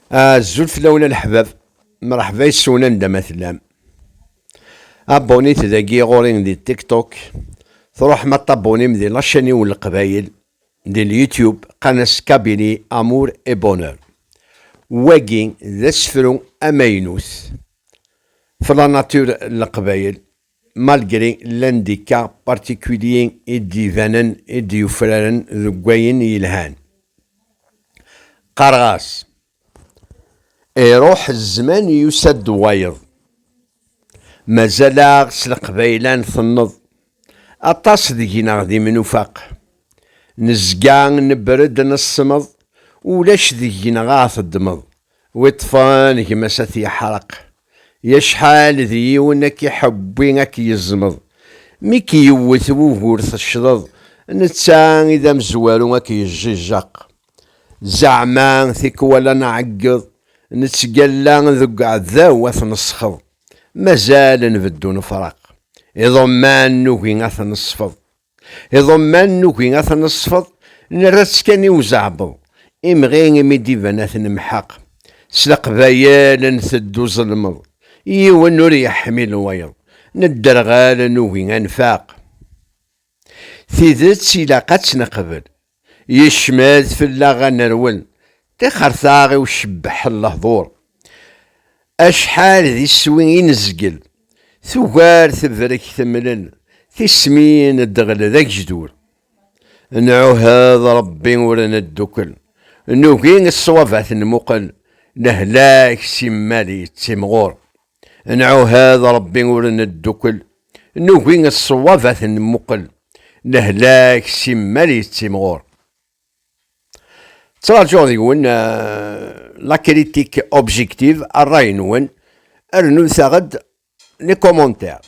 Azul fell-awen a leḥbab, mṛeḥba yes-wen anda ma tellam. Abonit dagi ɣur-i di TikTok, truḥem ad tabonim di lacaniw n Leqbayel, di l-YouTube, Qanas Kabili Amour et Bonheur. Wagi d asefru amaynut, Flanatür Leqbayel, malgré l'handicap particulier i d-ibanen i d-yufraren deg wayen yelhan. Qqareɣ-as, Iruḥ zzman yusa-d wayeḍ. Mazal-aɣ s leqbayla n tenneḍ, aṭas deg-neɣ d imnufaq. Nezga nebred nesmeḍ, ulac deg-neɣ aɣ-teddmeḍ. Wi ṭṭfen gma-s a t-yeḥreq. I acḥal d yiwen a k-iḥewwi a k-yeẓmeḍ. Mi k-yewwet wugur teccḍeḍ, netta i d amezwaru a k-yejjijjeq. Zeɛma tikwal a nɛeggeḍ, nettgalla deg uɛdaw a t-nesxeḍ. Mazal nbeddu nefreq. Iḍumman nugi a t-nesfeḍ. Iḍumman nugi ad ten-neṣfeḍ, nerra-tt kan i uzeɛbeḍ, imɣi imi d-iban ad t-nemḥeq. S leqbayel nteddu ẓelmeḍ, yiwen ur yeḥmil wayeḍ, nedderɣel nugi ad nfaq. Tidet ilaq ad tt-neqbel, Yecmed fell-aɣ ad nerwel. Tixertaɣ i ucebbeḥ n lehdur. Acḥal d iswi i nezgel. Tugar tebrek temlel. Tismin ddɣel d agejdur. Nɛuhed Rebbi ur neddukel. Nugi ṣṣwab ad t-nmuqel. Lehlak simmal yettimɣur. Nɛuhad Ṛebbi ur neddukel, nugi ṣṣwab ad t-nemmuqel, lehlak simmal yettimɣur. Ttraǧuɣ deg-wen la critique objective, ṛṛay-nwen, rnut-aɣ-d les commentaires.